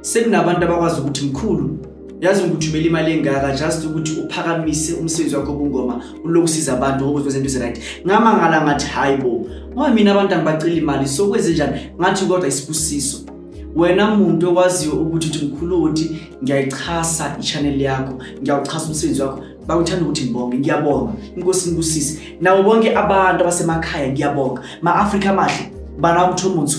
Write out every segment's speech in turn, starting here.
sekunabantu abakwazi ukuthi mkhulu yazi ngikuthumela imali engaka just ukuthi uphakamise umsebenzi wakho obungoma ulokhu usiza abantu ngokuthi kwezinto eziright ngamangala ngathi hayi bo ngoba mina abantu angibacela imali so kwenze njani ngathi kodwa isibusiso wena muntu owaziyo ukuthi uthi mkhulu ukuthi ngiyayixhasa i-channel yakho ngiyawuxhasa umsebenzi wakho bakuthanda ukuthi ngibonge ngiyabonga inkosi ngibusise nabo bonke abantu abasemakhaya ngiyabonga ma-afrika amahle bana umthomuthu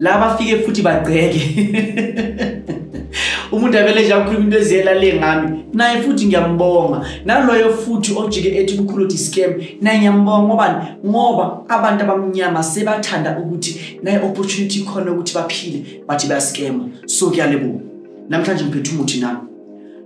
la bafike futhi bagceke umuntu avele nje akhuluma into eziyela le ngami naye futhi ngiyambonga naloyo futhi ojike ethi umkhulu uthi scam naye ngiyambonga ngobani ngoba abantu abamnyama sebathanda ukuthi naye opportunity khona ukuthi baphile bathi bayascama so kuyalebuka namhlanje ngiphethe umuthi nami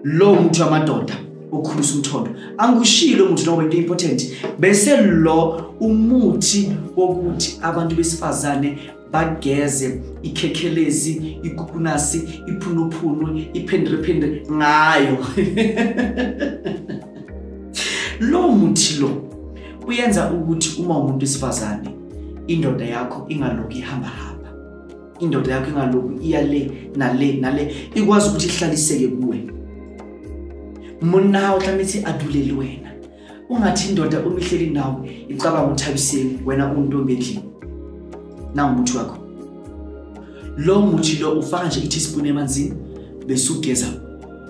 lo muntu wamadoda okhulisa umthondo angikushilo ukuthi noma into important bese lo umuthi wokuthi abantu besifazane bageze ikhekhelezi ikukunasi iphunuphunu iphendrephendre ngayo lo muthi lo uyenza ukuthi uma umuntu wesifazane indoda yakho ingaloku ihamba hamba indoda yakho ingaloku iya le nale nale ikwazi ukuthi ihlaliseke kuwe monna uhlame ithi aduleli wena ungathi indoda uma ihleli nawe icabanga ukuthi abiseni wena untombi endlini nangomuthi wakho lo muthi lo ufaka nje i-teaspoon emanzini bese ugeza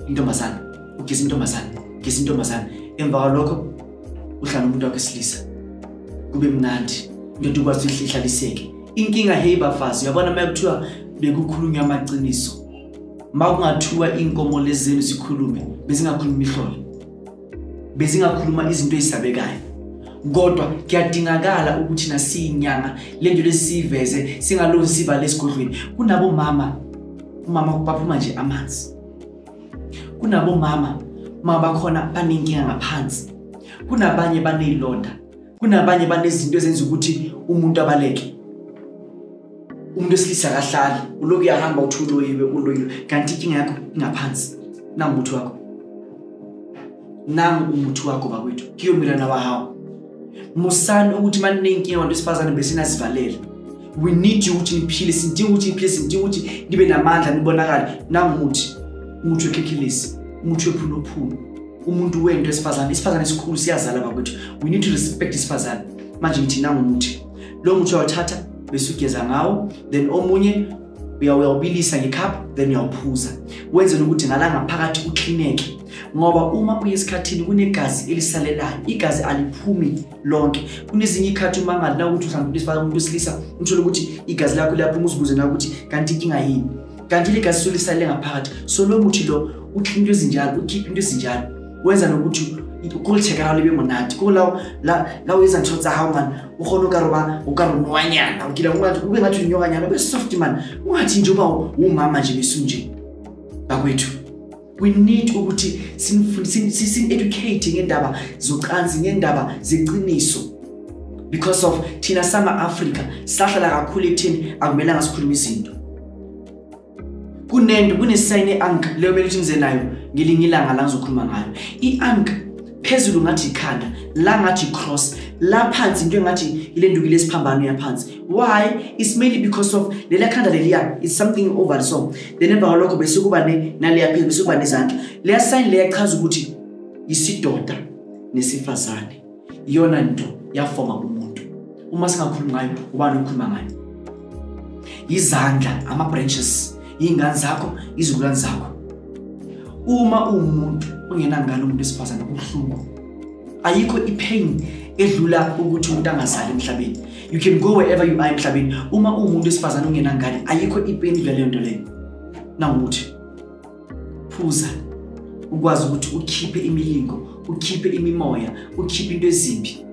intombazane ugeza intombazane ugeza intombazane emva kwalokho uhlala umuntu wakho esilisa kube mnandi into ukwazi ukuthi ihlaliseke inkinga hey bafazi uyabona uma kuthiwa bekukhulunywa amaqiniso uma kungathiwa iy'nkomo lezi zenu zikhulume bezingakhuluma ihlolo bezingakhuluma izinto ezisabekayo kodwa kuyadingakala ukuthi nasiyinyanga le nto lesiyiveze singaloni siva lesigodlweni kunabomama umama baphuma nje amanzi kunabomama uma bakhona banenkinga ngaphansi kunabanye baneyilonda kunabanye banezinto ezenza ukuthi umuntu abaleke umuntu esilisa akahlali uloku uyahamba uthi uloyiwe uloyiwe kanti inkinga yakho ingaphansi nangu umuthi wakho nangu umuthi wakho bakwethu kiyomilana wahawu musani ukuthi maninenkinga abantu esifazane besinazivalele we need you ukuthi niphile sidinga ukuthi niphile sidinga ukuthi nibe namandla nibonakale nangu umuthi umuthi wekhekhilisi umuthi wephulophulo umuntu wento esifazane isifazane esikhulu siyazala bakwethu we need to respect isifazane manje ngithi nangumuthi lo muthi uyawuthatha bese ugeza ngawo then omunye uyawubilisa ngekhaphu then uyawuphuza wenzela ukuthi ngalangaphakathi uklineke ngoba uma uye esikhathini kunegazi elisalelayo igazi aliphumi lonke kunezinye ikhathi uma ngalina ukuthi mhlawumbe umuntu wesilisa umthole ukuthi igazi lakho liyaphuma uzibuze na ukuthi kanti inkinga yini kanti ligazi lisuke lisalele ngaphakathi so lo muthi lo ukhipha into ezinjalo ukhipha into ezinjalo wenza nokuthi ukulitheka lawo libe monate ko lawo la o etsa ntho tsa gago mane o kgone o ka roba o ka ronwanyana o kila ngate ube ngathi unyokanyana ube soft mane ungathi nje uba umama nje besunje bakwethu we need ukuthi sin-educate ngendaba zocansi ngendaba zeqiniso because of thina sama-afrika sahlala kakhulu ekutheni akumelanga sikhuluma izinto kunento kunesayini i-ank leyo kumele ukuthi ngize nayo ngelinye ilanga la ngizokhuluma ngayo i-ank phezulu ngathi ikhanda la ngathi i-cross la phansi into engathi ile ndukile esiphambano yaphansi why it's mainly because of leliya khanda leliya is something over so then emva kwalokho bese kuba naleya phezulu bese kuba nezandla leya sign leya chaza ukuthi yisidoda nesifazane iyona nto yafoma umuntu uma singakhulumi ngayo ubani okhuluma ngayo izandla ama-branches iy'ngane zakho izikulwane zakho uma uwumuntu ongenangane umuntu wesifazane kubuhlungu ayikho ipain edlula ukuthi umuntu angazali emhlabeni you can go wherever you are emhlabeni uma uwumuntu wesifazane ungenangane ayikho ipain edlula leyo nto leyo nawukuthi phuza ukwazi ukuthi ukhiphe imilingo ukhiphe imimoya ukhiphe into ezimbi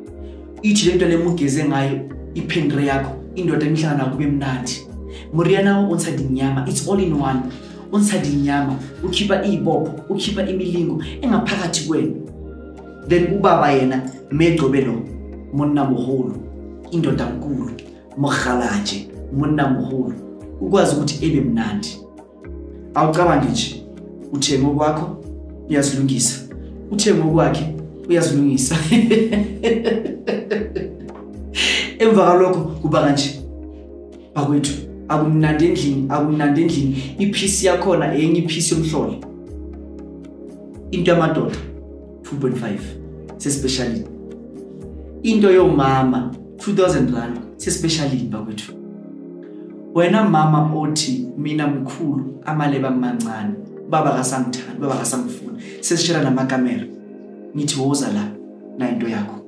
ithi le nto le mugeze ngayo iphendure yakho indoda enihlangana kube mnandi moriana o ntshadinyama it's all in one unsada inyama ukhipha iy'bopho ukhipha imilingo engaphakathi kwenu then ubaba yena megcobe lo monna moholo indoda nkulu mohalaje monna moholo ukwazi ukuthi ebe mnandi awucabangi nje uthenge okwakho uyazilungisa uthenge okwakhe uyazilungisa emva kalokho kuba kanje bakwethu akumnandi endlini akumnandi endlini iphisi yakhona enye iphisi yomhlolo into yamadoda 2.5 sespecialini into yomama 2000 rand sespecialini bakwethu wena mama othi mina mkhulu amaleba mancane baba kasangithandi baba kasamfuni sesishela namakamera ngithi woza la nayinto yakho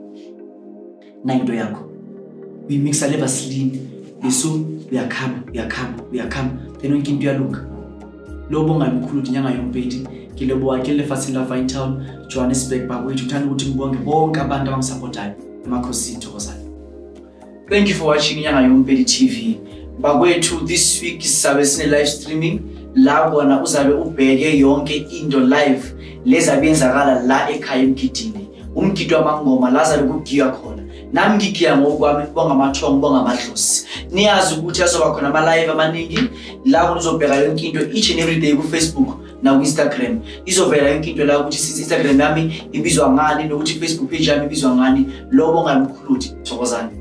nayo into yakho uyimixa le vaseline yesu uyakhama uyakhama uyakhama then yonke into uyalunga lobo ongalimkhulu ukuthi nyanga yompeti ngilobo wakhe lefasini lafine town johannesburg bakwethu uthanda ukuthi ngibonge bonke abantu abangisapothayo emakhosini thokozane thank you for watching inyanga yompeti tv bakwethu this week sisabe sine-live streaming la kona uzabe ubheke yonke into live lezi abenzakala la ekhaya emgidini umgidi wamangoma la zabe kugiywa khona nami ngigiya ngokwami kubonga amathongo kubonga amadlosi niyazi ukuthi azoba khona ama-live amaningi la kunizobheka yonke into each and every day kufacebook nakwi-instagram izovela yonke into la ukuthi sithi instagram yami ibizwa ngani nokuthi ifacebook page yami ibizwa ngani lobo ngalumkhuludi thokozani